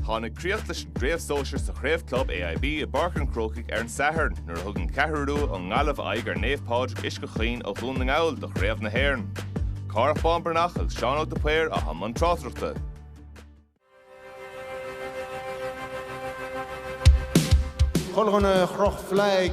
Tháinig críoch leis an gcraobh sóisir sa Chraobh Club AIB i bPáirc an Chrócaigh ar an Satharn nuair a thug an Cheathrú Rua ón nGaillimh aghaidh ar Naomh Pádraig Uisce Chaoin ó Dhún na nGall do Chraobh na hÉireann. Cárthach Bán Breathnach agus Seán Óg de Paor atá i mbun tráchtaireachta. Colgan a chroch flag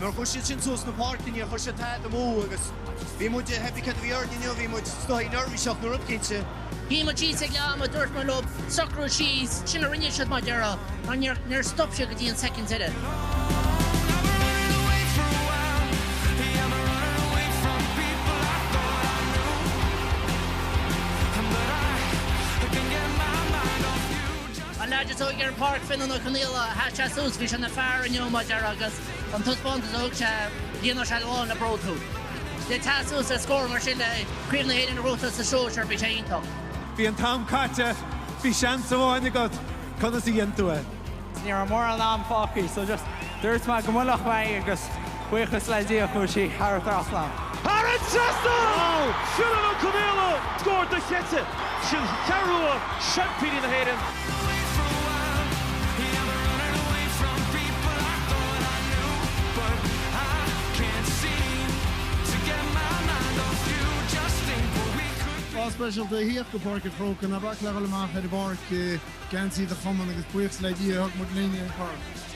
Nuair a chuir siad sin suas sna páirceanna chuir siad taithí dom uaidh agus bhí muid ag theip cead a bhí orainn inniu, bhí muid scothaí neirbhíseach nó rud cinnte. Bhí muid síos ag leath ama, dúirt muid leo socrú síos, sin a rinne siad mar a déarfá mar níor níor stop siad go dtí an soicind deiridh. An leaid is óige ar an bpáirc, Fionnán Ó Conghaile, sheas sé suas, bhí sé ina fhear inniu, mar a déarfá, agus an taispeántas a thug sé, líonfadh sé lán le bród thú. Le teacht suas le scór mar sin le Craobh na hÉireann a ghnóthachtáil sa sóisear, bhí sé iontach. Bhí an t-am caite, bhí seans amháin agat, conas a dhein tú é? Ní raibh mórán am fágtha so just dúirt mé go mbuailfeadh mé é agus. Buíochas le Dia chuaigh sí thar an trasnán. Thar an trasnán! Fionnán Ó Conghaile scór dochreidte, An Cheathrú Rua, seaimpíní na hÉireann. Lá speisialta a thíocht go Páirc an Chrócaigh. Ná bac le dhul amach ar an bpáirc i geansaí do chumann agus buíochas le Dia thug muid linn an corn.